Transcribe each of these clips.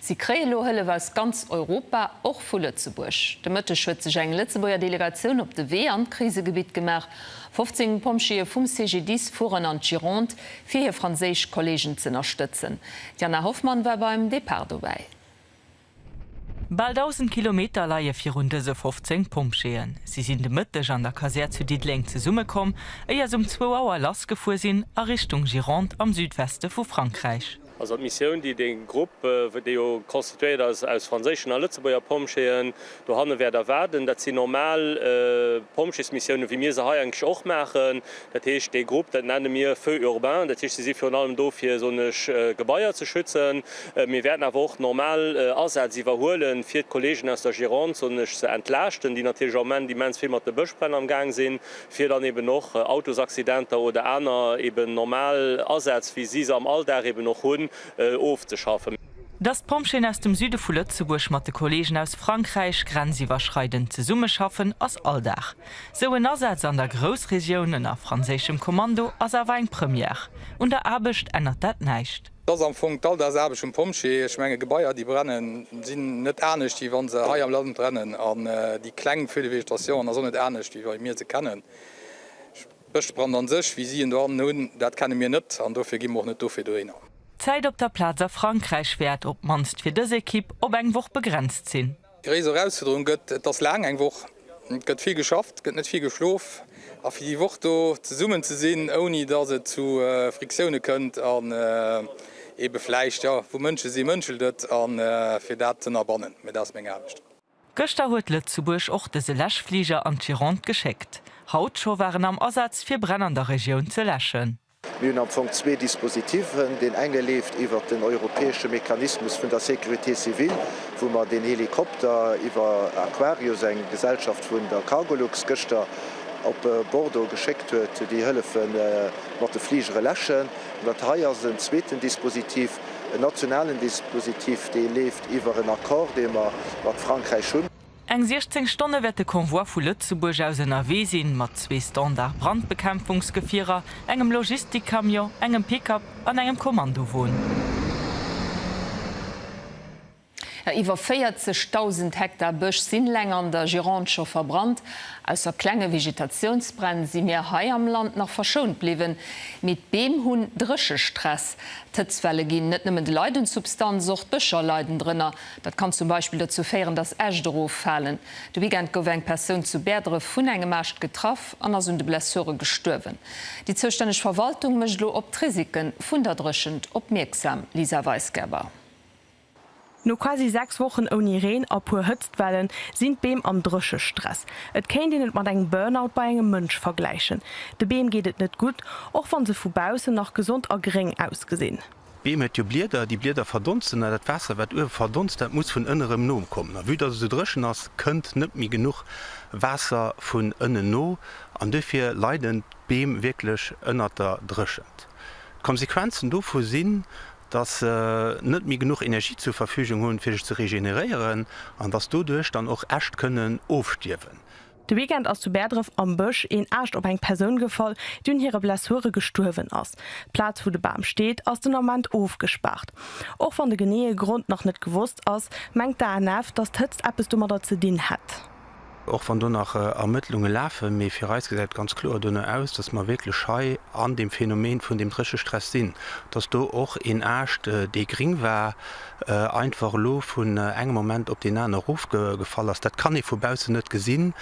Si kréie elo Hëllef aus ganz Europa, och vu Lëtzebuerg. De Mëtteg huet sech eng Lëtzebuerger Delegatioun op de Wee an d'Krisegebitt gemaach. 15 Pompjeeë vum CGDIS fueren an d'Gironde, fir hir franséisch Kolleegen z'ënnerstëtzen. D'Jana Hoffmann war beim Depart dobäi. Bal 1.000 Kilometer leie virun dëse 15 Pompjeeën. Si sinn de Mëtteg an der Kasär zu Diddeleng zesummekomm, éier s'um zwou Auer lassgefuer sinn a Richtung Gironde am Südweste vu Frankräich. Also d' Missioun, déi dee Grupp, dee jo constituéiert ass aus franséischen a Lëtzebuerger Pompjeeën, dohanne wäert erwaarden, dat sinn normal Pompjeesmissiounen, wéi mir se hei eigentlech och maachen. Dat heescht, dee Grupp, dat nenne mir Feux urbains. Dat heescht, si si virun allem do, fir souenesch Gebaier ze schützen. Mir wäerten awer och normal Asätz iwwerhuele fir d'Kolleegen aus der Gironde souenesch ze entlaaschten, déi natierlech am Moment immens vill mat de Bëschbränn am Gaang sinn. fir dann eben och Autosaccidenter oder aner eben normal Asätz, wéi si se am Alldag eben och hunn, ofzeschaffen. Dass d'Pompjeeën aus dem Süde vu Lëtzebuerg mat de Kolleegen aus Frankräich grenziwwerschreidend zesummeschaffen, ass Alldag. Sou en Asaz an der Groussregioun ënner franséischem Kommando ass awer eng Première. Un der Aarbecht ännert dat näischt. Et ass am Fong d'Alldagsarbecht vum Pompjee. Ech menge Gebaier déi brennen sinn net anescht wéi wann se hei am Land brennen an déi kleng Feux de végétation an ass och net anescht wéi wei mir se kennen. Bëschbrand an sech, wéi si en dohannen hunn, dat kenne mir net an dofir gi mer och net do virdrënner. D'Zäit op der Plaz a Frankräich wäert, op d'mannst fir dës Ekipp, op eng Woch begrenzt sinn. Gréisser Erausfuerderung gëtt. Et ass laang, eng Woch, et gëtt vill geschafft, et gëtt net vill geschlof. A fir déi Woch do zesummen ze sinn, ouni datt et zu Friktioune kënnt an ebe vläicht, jo, wou Mënsche si mënschelt et, a fir dat z'ënnerbannen, mee dat ass meng Aarbecht. Gëschter huet Lëtzebuerg och dëse Läschfliger an d'Gironde geschéckt. Haut scho war en am Asaz fir Bränn an der Regioun ze läschen. Mir hunn am Fong zwee Dispositiven. Deen enge leeft iwwert den europäesche Mechanismus vun der Sécurité civile, wou mer deen Helikopter iwwer Aquarius, eng Gesellschaft vun der Cargolux, gëschter op Bordeaux geschéckt huet, déi hëllefe mat de Fligere läschen. An dat hei ass en zweeten Dispositif, en nationalen Dispositif, dee leeft iwwer en Accord, dee mer mat Frankräich hunn. Eng 16 Stonne wäert de Convoi vu Lëtzebuerg aus ënnerwee sinn, mat zwee Standard-Brandbekämpfungsgefierer, engem Logistikcamion, engem Pick-up an engem Kommandowon. Iwwer 40.000 Hektar Bësch sinn leng an der Gironde scho verbrannt. Ausser klenge Vegetatiounsbränn si mir hei am Land nach verschount bliwwen. Mee d'Beem hunn Dréchestress. D'Hëtzwelle ginn net nëmmen de Leit un d'Substanz, och d'Bëscher leiden drënner. Dat kann zum Beispill dozou féieren, dass Äscht eroffalen. De Weekend gouf eng Persoun zu Bäerdref vun engem Aascht getraff an ass un de Blessure gestuerwen. Déi zoustänneg Verwaltung mécht elo op d'Risike vun der Dréchent opmierksam, Lisa Weisgerber. No quasi 6 Wochen ouni Reen a puer Hëtztwellen sinn d'Beem am Dréchestress. Et kéint een et mat engem Burnout bei engem Mënsch vergläichen. De Beem geet et net gutt, och wann se vu baussen nach gesond a gréng ausgesinn. D'Beem huet jo Blieder, déi Blieder verdonsten a dat Waasser, wat uewe verdonst, dat muss vun ënne rëm nokommen. A vue dass et esou dréchen ass, kënnt net méi genuch Waasser vun ënnen no an duerfir leiden d'Beem wierklech ënnert der Dréchent. D'Konsequenzen dovu sinn, dass se net méi genuch Energie zur Verfügung hunn, fir sech ze regeneréieren an dass doduerch dann och Äscht kënnen ofstierwen. De Weekend ass zu Bäerdref am Bësch een Aascht op eng Persoun gefall, déi un hire Blessure gestuerwen ass. D'Plaz, wou de Bam steet, ass den Ament ofgespaart. Och wann de geneeë Grond nach net gewosst ass, mengt d'ANF, datt d'Hëtzt eppes domadder ze dinn hätt. Och wann do nach Ermëttlunge lafen, mee fir eis gesäit et ganz kloer dono aus, datt mer wierklech hei an deem Phänomen vun deem Dréchestress sinn. Datt do och een Aascht, dee gring war, einfach elo vun engem Moment op deen aner erofgefall ass, dat kann ee vu baussen net gesinn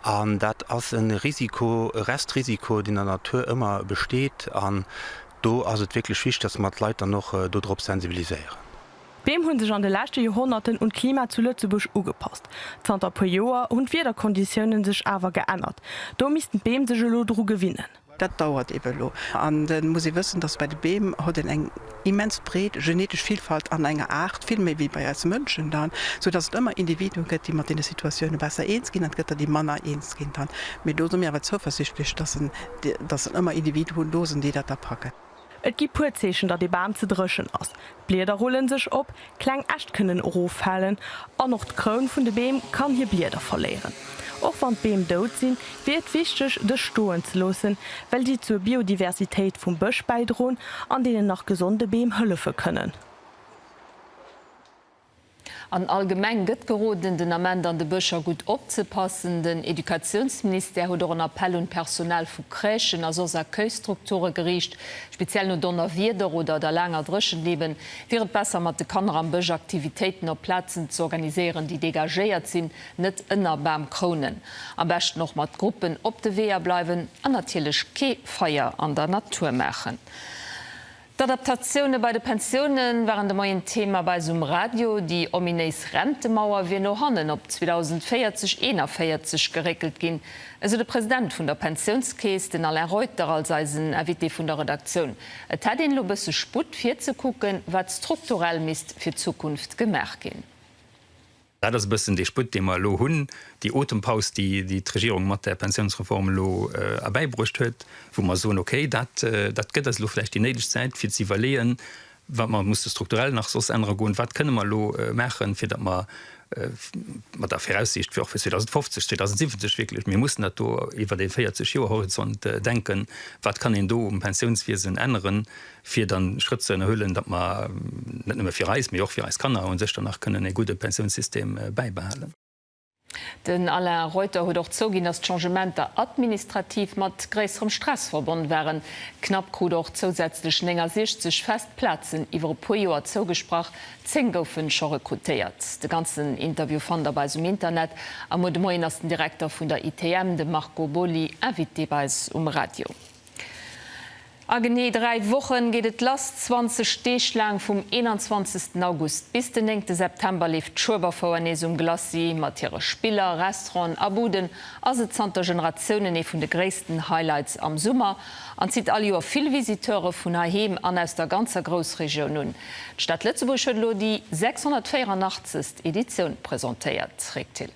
an dat ass e Risiko, e Restrisiko, deen an der Natur ëmmer besteet. An do ass et wierklech wichtig, dass mer d'Leit dann och do drop sensibiliséieren. D'Beem hu sech an de leschte Joerhonnerten un d'Klima zu Lëtzebuerg ugepasst. Zanter e puer Joer hunn d'Wiederkonditiounen sech awer geännert. Do missten d'Beem sech elo dru gewinnen. Dat dauert eebe elo. An et muss ee wëssen, datt bei de Beem hott een eng immens breet genetesch Vilfalt an enger Aart, vill méi wéi bei eis Mënschen dann, soudatt et ëmmer Individuen gëtt, déi mat deene Situatioune besser eens ginn, an et gëtt der, déi manner eens ginn dann. Mee do si mir awer zouversichtlech, datt en, datt en ëmmer Individuen do sinn, déi dat da packen. Et gi puer Zeechen datt ee Bam ze dréchen ass, d'Blieder rulle sech op, kleng Äscht kënnen eroffalen an och d'Kroun vun de Beem kann hir Blieder verléieren. Och wann d'Beem dout sinn, wier et wichteg dës stoen ze loossen, well si zur Biodiversitéit vum Bësch bäidroen an deenen nach gesonde Beem hëllefe kënnen. An allgemeng gëtt geroden, den Ament an de Bëscher gutt opzepassen. Den Educatiounsministère huet och en Appell un d'Personal vu Crèchen a soss Accueilsstrukture geriicht. Speziell no Donnerwieder oder der laanger Dréchent eben, wier et besser mat de Kanner am Bësch Aktivitéiten op Plazen ze organiséieren, déi degagéiert sinn, net ënner Bamkrounen. Am beschten och mat Gruppen op de Weeër bleiwen an natierlech kee Feier an der Natur maachen. D'Adaptatioune bei de Pensioune waren de Moien Thema bei eis um Radio. Déi ominéis Rentemauer wier no hannen op 2040, 41 geréckelt ginn, esou de President vun der Pensiounskeess, den Alain Reuter, als eisen Invité vun der Redaktioun. Et hätt een elo bësse Sputt, virzekucken, wat strukturell misst fir d'Zukunft gemaach ginn. Dat ass e bëssen dee Sputt, dee mer elo hunn, déi Otempaus, déi d'Regierung mat där Pensiounsreform elo erbäibruecht huet, wou mer soen, okay, dat gëtt eis elo vläicht déi néideg Zäit, fir ze iwwerleeën, wat mer musse strukturell nach soss ännere goen, wat kënne mer elo maachen, fir datt mer mat der Viraussiicht fir och fir 2050, 2070 wierklech, mir mussen dat do iwwert ee 40 Joer Horizont denken, wat kann een do um Pensiounswiesen änneren, fir dann Schrëtt ze ënnerhuelen, datt mer net nëmme fir eis, mee och fir eis Kanner u sech dann nach kënnen e gudde Pensiounssystem bäibehalen. Den Alain Reuter huet och zouginn, datt d'Changementer administrativ mat gréisserem Stress verbonn waren. D'Knapp krut och zousätzlech 69 fest Plazen iwwer e puer Joer zougesprach, 10 goufe scho rekrutéiert. De ganzen Interview fannt der bei eis um Internet. Am Mot de Moien ass den Direkter vun der ITM, de Marco Boly, Invité bei eis um Radio. A genee dräi Wochen geet et lass, 20 Deeg laang, vum 21 August bis den 9 September leeft d'Schueberfouer nees um Glacis. Mat hire Spiller, Restauranten a Buden ass et zanter Generatiounen ee vun de gréissten Highlights am Summer an zitt all Joer vill Visiteure vun heiheem an aus der ganzer Groussregioun un. D'Stad Lëtzebuerg huet elo déi 684. Editioun presentéiert. Rick Thill.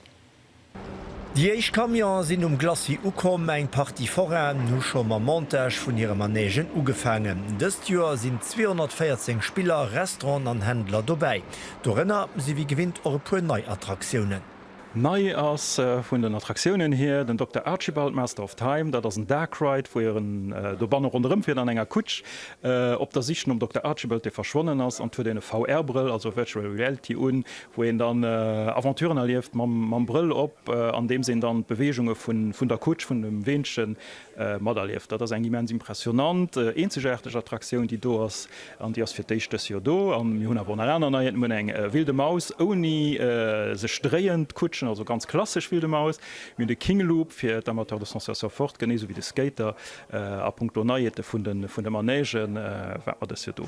Déi éischt Camionen sinn um Glacis ukomm, eng Partie Forainen hu scho mam Montage vun hire Manègen ugefaangen. Dëst Joer sinn 214 Spiller, Restauranten an Händler dobäi. Dorënner si wéi gewinnt och e puer nei Attraktiounen. Nei ass vun den Attraktiounen hier den Dokter Archibald, Master of Time. Dat ass en Dark Ride, wou een dobanne ronderëm fiert an enger Kutsch, op der Sich nom Dokter Archibald, dee verschwonnen ass. An et huet een e VR-Brëll, also Virtual Reality, un, wou een dann Aventuren erlieft mam Brëll op, andeems een dann d'Beweegunge vun der Kutsch, vun dem Weenche materlieft. Dat ass eng immens impressionant, eenzegaarteg Attraktioun, déi do ass, an déi ass fir d'éischt dës Joer do. A mir hunn awer och nach aner Neien, mir hunn eng Wilde Maus ouni sech dréiend Kutschen, also ganz klassesch Wilde Maus, mir hunn de King Loop fir d'Amateurs de sensations fortes, genee esou wéi de Skater, A punkto Neiheete vun de Manège waart mer dës Joer do.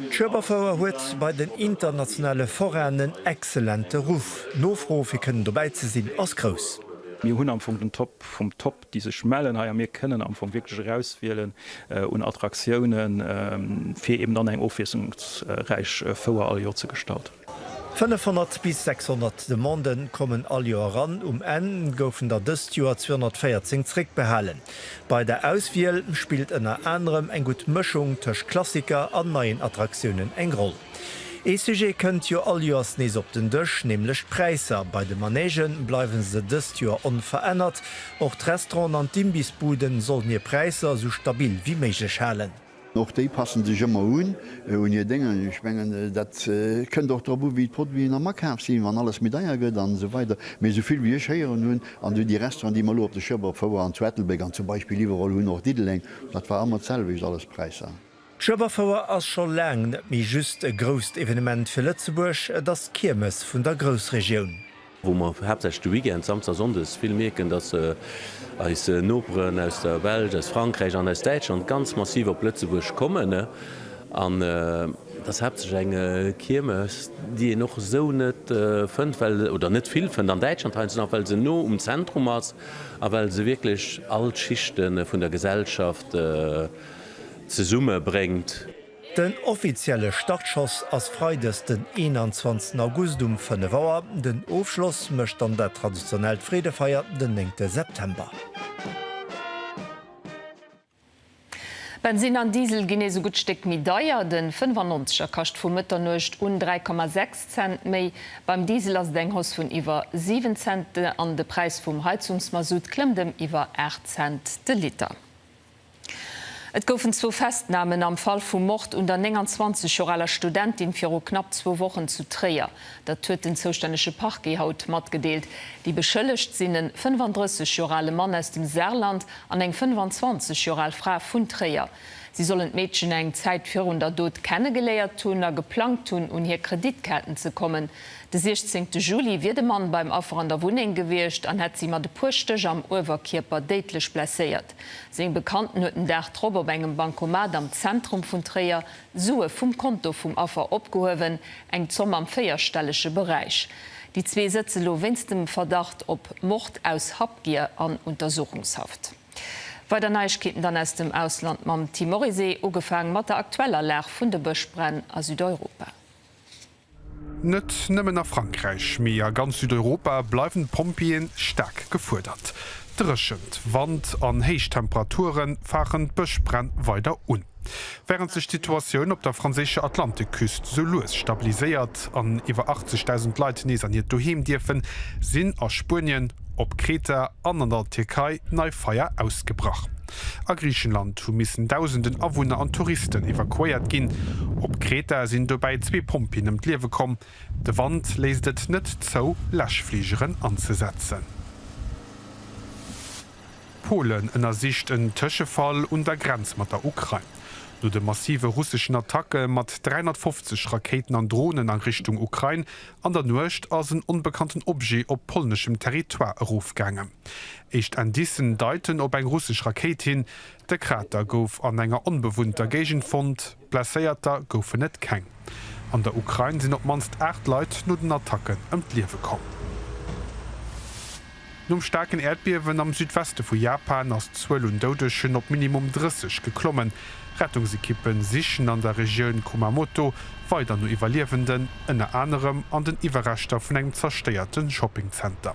D'Schueberfouer huet bei den internationale Forainen en excellente Ruff. D'Nofro fir kënnen dobäi ze sinn ass grouss. Mir hunn am Fong den Top vum Top déi sech mellen hei a mir kënnen am Fong wierklech erauswielen un Attraktiounen fir eben dann eng ofwiesslungsräich Fouer all Joer ze gestalten. 500 bis 600 Demandë kommen all Joer eran, um Enn goufen der dëst Joer 214 zréckbehalen. Bei der Auswiel spillt ënner anerem eng gutt Mëschung tëscht Klassiker an neien Attraktiounen eng Roll. Ee Sujet kënnt jo all Joers nees op den Dësch, nämlech d'Präisser. Bei de Manège bleiwe se dëst Joer onverännert. Och d'Restauranten an d'Imbissbuden sollen hir Präisser esou stabil wéi méiglech halen. Och déi passen sech ëmmer un un hir Déngen. Ech mengen, dat kënnt och drop u wéi d'Produiten am Akaaf sinn. Wann alles méi deier gëtt an esou weider. Mee esou vill wéi ech héieren hunn, an déi Restauranten déi mer elo op de Schëff afoueren, an zu Ettelbréck an zum Beispill iwwerall hunn och Diddeleng, dat war ëmmer d'selwecht alles Präisser. D'Schëffafouer ass scho laang net méi just e grousst Evenement fir Lëtzebuerg, et ass d'Kiermes vun der Groussregioun. wou mer haaptsächlech de Weekend, Samsdag, Sonndes, vill mierken, dass eis Noperen aus der Belsch, aus Frankräich an aus Däitschland ganz massiv op Lëtzebuerg kommen. An et ass haaptsächlech eng Kiermes, déi een och esou net fënnt, well, oder net vill fënnt an Däitschland heiansdo nach, well se no um Zentrum ass a well se wierklech all d'Schichte vun der Gesellschaft zesummebréngt. Den offizielle Startschoss ass Freides den 21 August um 5 Auer, den Ofschloss mécht dann dat traditionellt Freedefeier den 9 September. Bensinn an Diesel ginn ee sougutt Stéck méi deier, de 95er kascht vu Mëtternuecht un 3,6 Cent méi. Beim Diesel ass et eng Hausse vun iwwer 7 Cent an de Präis vum Heizungsmasutt klëmmt ëm iwwer 8 Cent de Liter. Et goufen zwou Festnamen am Fall vum Mord un der 29 Joer aler Studentin viru knapp zwou Wochen zu Tréier. Dat huet den zoustännege Parquet haut matgedeelt. Déi Beschëllegt sinn e 35 Joer ale Mann aus dem Saarland an eng 25 Joer al Fra vun Tréier. Si sollen d'Meedchen eng Zäit virun der Dot kennegeléiert hunn a geplangt hunn, un hir Kreditkaarten ze kommen. De 16 Juli wier de Mann beim Affer an der Wunneng gewiescht an hätt si mat e puer Stéch am Uewerkierper déidlech blesséiert. Seng Bekannten huet den Dag drop op engem Bancomat am Zentrum vun Tréier Sue vum Konto vum Affer opgehuewen, eng Zomm am véierstellege Beräich. Déi zwee sëtze lo wéinst dem Verdacht op Mord aus Habgier an Untersuchungshaft. Weider Neiegkeeten dann aus dem Ausland mam Tim Morisé, ugefaang mat der aktueller Lag vun de Bëschbränn a Südeuropa. Net nëmmen a Frankräich, mee a ganz Südeuropa bleiwen d'Pompjeeën staark gefuerdert. Dréchent, Wand an héich Temperature fachen d'Bëschbränn weider un. Wärend sech d'Situatioun op der franséischer Atlantekküst sou lues stabiliséiert an iwwer 80.000 Leit nees an hiert Doheem dierfen, sinn a Spuenien, op Kreta an an der Tierkei nei Feier ausgebrach. A Griichenland hu missen Dausenden Awunner an Touristen evakuéiert ginn. Op Kreta sinn dobäi zwee Pompjeeën ëm d'Liewe komm. De Wand léisst et net zou, Läschfligeren anzesetzen. Polen ënnersicht en Tëschefall un der Grenz mat der Ukrain. No de massive russeschen Attacke mat 350 Rakéiten an Dronen a Richtung Ukrain An der Nuecht ass en onbekannten Objet op polneschem Territoire erofgaangen. Éischt Indicen deiten op eng russesch Rakéit hin. De Krater gouf an enger onbewunnter Géigend fonnt, Blesséierter goufen et keng. An der Ukrain sinn op d'mannst 8 Leit no den Attacken ëm d'Liewe komm. Nom staarken Äerdbiewen am Südweste vu Japan ass d'Zuel un Doudegen op minimum 30 geklommen. Rettungsekippe sichen an der Regioun Kumamoto weider no Iwwerliewenden, ënner anerem an den Iwwerreschter vun engem zerstéierte Shoppingzenter.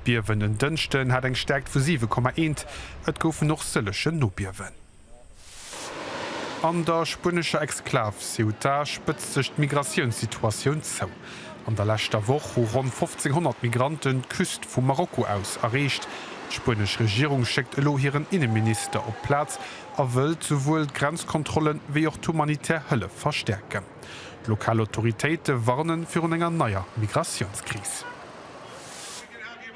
D'Biewen en Dënschden hat eng Stäerkt vu 7,1. Et goufen och sëllege Nobiewen. An der spuenescher Exklav Ceuta spëtzt sech d'Migratiounssituatioun zou. An der leschter Woch hu ronn 1.500 Migranten d'Küst vu Marokko aus erreecht. D'spuenesch Regierung schéckt elo hiren Inneminister op d'Plaz a wëllt souwuel d'Grenzkontrolle wéi och d'humanitär Hëllef verstäerken. D'lokal Autoritéite warne virun enger neier Migratiounskris.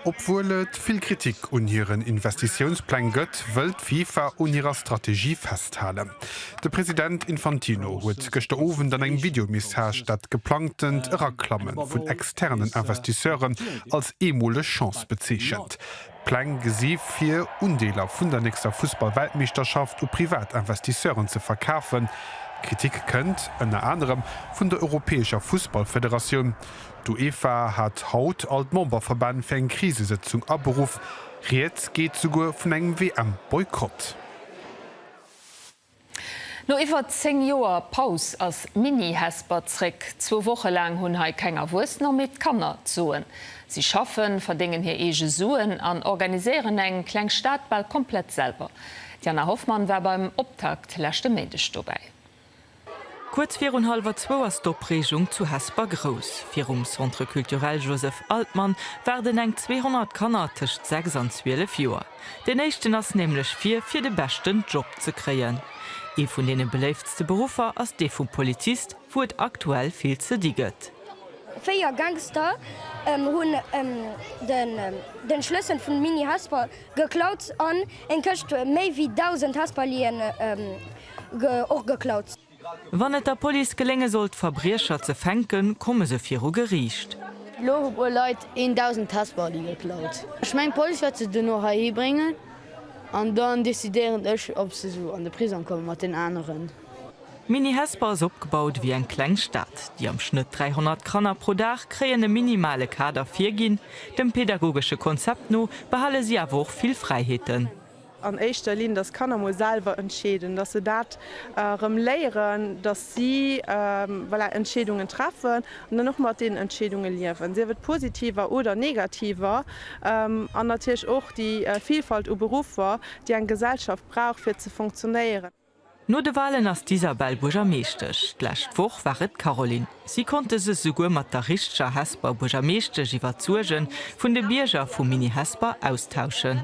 Obwuel et vill Kritik un hiren Investitiounspläng gëtt, wëll d'FIFA un hirer Strategie festhalen. De President Infantino huet gëschter Owend an engem Videomessage dat geplangtent Eraklamme vun externen Investisseuren als eemoleg Chance bezeechent. D'Pläng gesi vir, Undeeler vun der nächster Fussballweltmeeschterschaft u privat Investisseuren ze verkafen. Kritik kënnt ënner anerem vun der europäescher Fussballfederatioun. D'UEFA hat haut all d'Memberverbänn fir eng Krisesëtzung aberuff. Rieds geet souguer vun engem WM-Boykott. No iwwer 10 Joer Paus ass Mini Hesper zréck. Zwou Woche laang hunn hei keng Erwuessener méi d'Kanner d'Soen. Si schaffen, verdéngen hir eege Suen an organiséieren eng kleng Stad bal komplett selwer. D'Jana Hoffmann war beim Optakt leschte Méindeg dobäi. Kuerz virun hallwer zwou ass d'Opreegung zu Hesper grouss. Virum Centre Culturel Joseph Altmann waarden eng 200 Kanner tëscht 6 an 12 Joer. Deen éischten ass nämlech vir, fir de beschten Job ze kréien. Ee vun deene beléiftste Beruffer ass dee vum Polizist, wou et aktuell vill ze di gëtt. Véier Gangster hunn de Schlëssel vun Mini-Hesper geklaut an eng Këscht méi wéi 1.000 Hesperliën. och geklaut. Wann et der Police gelénge sollt d'Verbriecher ze fänken, komme se viru Geriicht. Elo hu puer Leit 1.000 Testbally geklaut. Ech mengen d'Police wäert se duerno heihi bréngen an dann decidéieren ech ob se an de Prisong komme mat den aneren. Mini Hesper ass opgebaut ewéi eng kleng Stad. Déi am Schnëtt 300 Kanner pro Dag kréien e minimale Kader virginn. Dem pädagogesche Konzept no behale si awer och vill Fräiheeten. an éischter Linn, dass d'Kanner emol selwer entscheeden, dass se dat erëm léieren, dass si, voilà, Entscheedungen treffen an dann och mat deenen Entscheedunge liewen, sief et positiver oder negativer, an natierlech och déi Vilfalt u Beruffer, déi eng Gesellschaft brauch, fir ze funktionéieren. No de Walen ass d'Isabelle Buergermeeschtesch. D'lescht Woch war et d'Caroline. Si konnt dës esouguer mat der richteger Hesper Buergermeeschtesch iwwer d'Suerge vun de Bierger vu Mini-Hesper austauschen.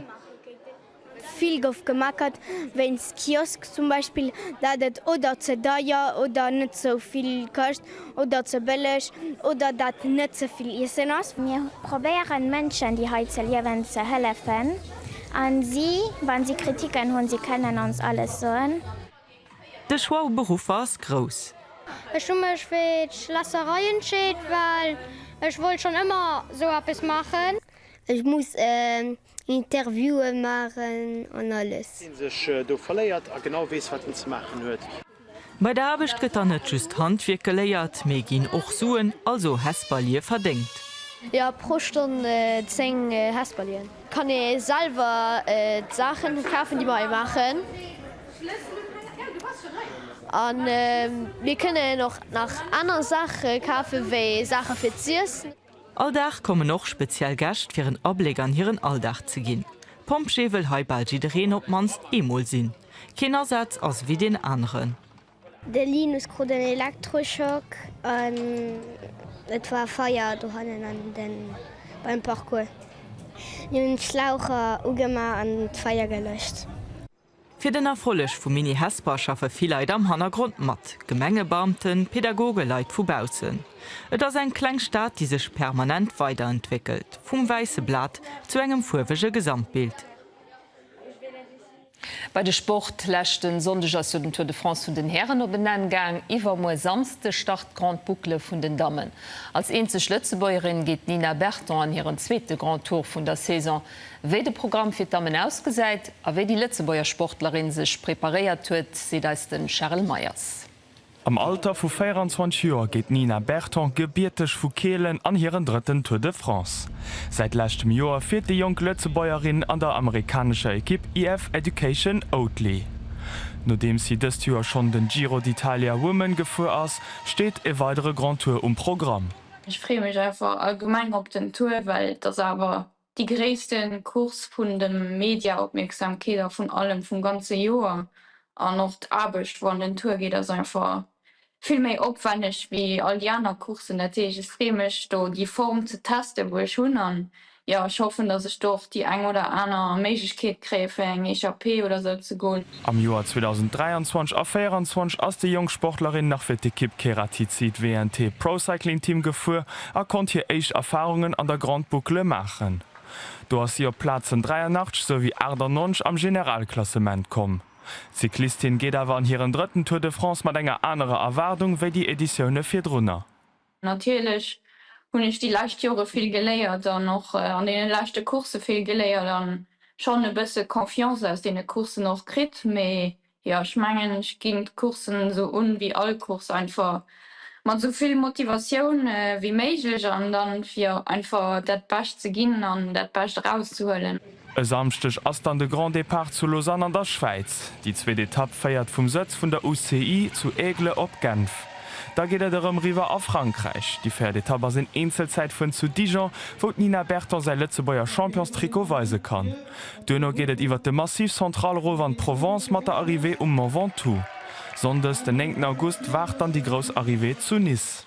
Vill gouf gemeckert wéinst Kiosk zum Beispill, dat et oder ze deier oder net sou vill këscht. Oder ze bëlleg, oder datt net ze vill Iessen ass. Mir probéieren Mënschen déi hei ze liewen ze hëllefen an si wann si Kritiken hunn, si kënnen ons alles soen. De Choix u Beruffer ass grouss. Ech hu mech fir d'Schlässerei entscheet well ech wollt schonn ëmmer sou eppes maachen. Ech muss Interviewen maachen an alles. Deen sech do verléiert a genau weess, wat en ze maachen huet. Bei der Aarbecht gëtt dann net just Handwierk geléiert, mee ginn och Suen, also Hesperlie, verdéngt. Jo, pro Stonn 10 Hesperlien. Kann ee selwer d'Saachen kafen, déi mer hei maachen. A mir kënnen och nach aner Saache kafen, wéi Saache fir z'iessen. All Dag kommen och speziell Gäscht fir en Abléck an hiren Alldag ze ginn. Pompjee wëll hei bal jiddereen op d'mannst eemol sinn. Keen Asaz ass ewéi deen aneren. De Linus krut en Elektroschock an et war Feier dohannen beim Parcours. Mir hunn d'Schlaucher ugemaach an d'Feier gelëscht. Fir den Erfolleg vum Mini Hesper schaffe vill Leit am Hannergrond mat, Gemengebeamten, Pädagogen, Leit vu baussen. Et ass eng kleng Stad, déi sech permanent weiderentwéckelt, vum wäisse Blat zu engem fuerwege Gesamtbild. Bei de Sport, Leschten Sonndeg ass jo den Tour de France vun den Hären op en Enn gaang. Iwwermuer Samsde start d'Grande Boucle vun den Dammen. Als eenzeg Lëtzebuergerin geet d'Nina Berton an hiren zweete Grand Tour vun der Saison. Wéi de Programm fir d'Dammen ausgesäit a wéi déi Lëtzebuerger Sportlerin sech preparéiert huet, seet eis de Charel Meyers. Am Alter vu 24 Joer geet d'Nina Berton gebierteg vu Keelen an hiren drëtten Tour de France. Säit leschtem Joer fiert déi jonk Lëtzebuergerin an der amerikanescher Ekipp IF Education Oatly. Nodeems si dëst Joer schonn den Giro d'Italia Women gefuer ass, steet e weidere Grand Tour um Programm. Ech freeë mech einfach allgemeng op den Tour, well et ass awer Déi gréisste Course vun de Mediaopmierksamkeet a vun allem vum ganze Joer. An och d'Aarbecht, wou an den Tour geet, ass einfach vill méi opwänneg wéi all déi aner Coursen. Dat heescht, ech freeë mech do déi Form ze testen, wou ech hunn. An jo, ech hoffen, dass ech do och déi eng oder aner Méiglechkeet kréie fir eng Echappée oder esou ze goen. Am Joer 2023 a 24 ass déi jonk Sportlerin nach fir d'Ekipp Kerathizit WNT Pro Cycling Team gefuer a konnt hir éischt Erfarungen an der Grande Boucle maachen. Do ass si op d'Plazen 83 souwéi 98 am Generalklassement komm. D'Cyclistin geet awer an hiren drëtten Tour de France mat enger anerer Erwaardung wéi déi Editioune virdrunner. Natierlech hunn ech déi lescht Jore vill geléiert an och an deene leschte Coursë vill geléiert a schonn e bësse Confiance aus deene Coursen och kritt. Mee jo, ech mengen, ech ginn d'Coursen esou un wéi all Course, einfach mat esou vill Motivatioun wéi méiglech an dann, fir einfach dat Bescht ze ginn an dat Bescht erauszehuelen. E Samschdeg ass dann de Grand Départ zu Lausanne an der Schwäiz. Déi zweet Etapp féiert vum Sëtz vun der UCI zu Aigle op Genf. Da geet et erëm riwwer a Frankräich. Déi véiert Etapp ass een Eenzelzäit vun zu Dijon, wou d'Nina Berton säi Lëtzebuerger Championstrikot weise kann. Duerno geet et iwwer de Massif Central erof an d'Provence mat der Arrivée um Mont Ventoux. Sonndes den 9 August waart dann déi grouss Arrivée zu Nice.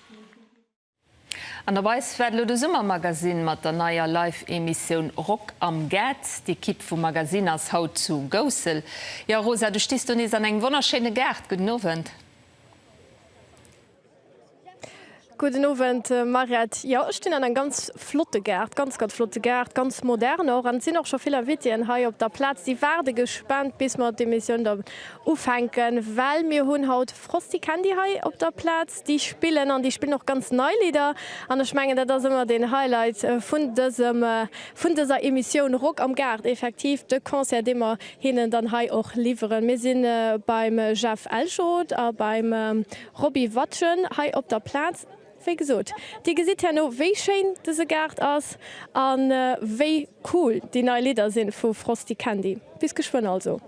An der Weis waart elo de Summermagazine mat der neier Live-Emissioun Rock am Gaart. D'Equipe vum Magazine ass haut zu Goussel. Jo Rosa, du stis do nees an engem wonnerschéine Gaart. Gudden Owend. Gudden Owend Mairéit. Jo, ech stinn an engem ganz flotte Gaart, ganz ganz flotte Gaart, ganz modern och. An et sinn och scho vill Invitéen hei op der Plaz. Déi waarde gespaant bis mer d'Emissioun dann ufänken, well mir hunn haut Frosty Candy hei op der Plaz. Déi spillen, an déi spillen och ganz nei Lidder, an ech mengen dat ass ëmmer den Highlight vun dësem, vun dëser Emissioun Rock am Gaart, effektiv de Concert dee mer hinnen dann hei och liwweren. Mir si beim Jeff Elschot a beim Roby Watjen hei op der Plaz. Wéi gesot, Dir gesitt herno wéi schéin dëse Gaart ass, a wéi cool déi nei Lidder sinn vu Frosty Candy. Bis geschwënn also.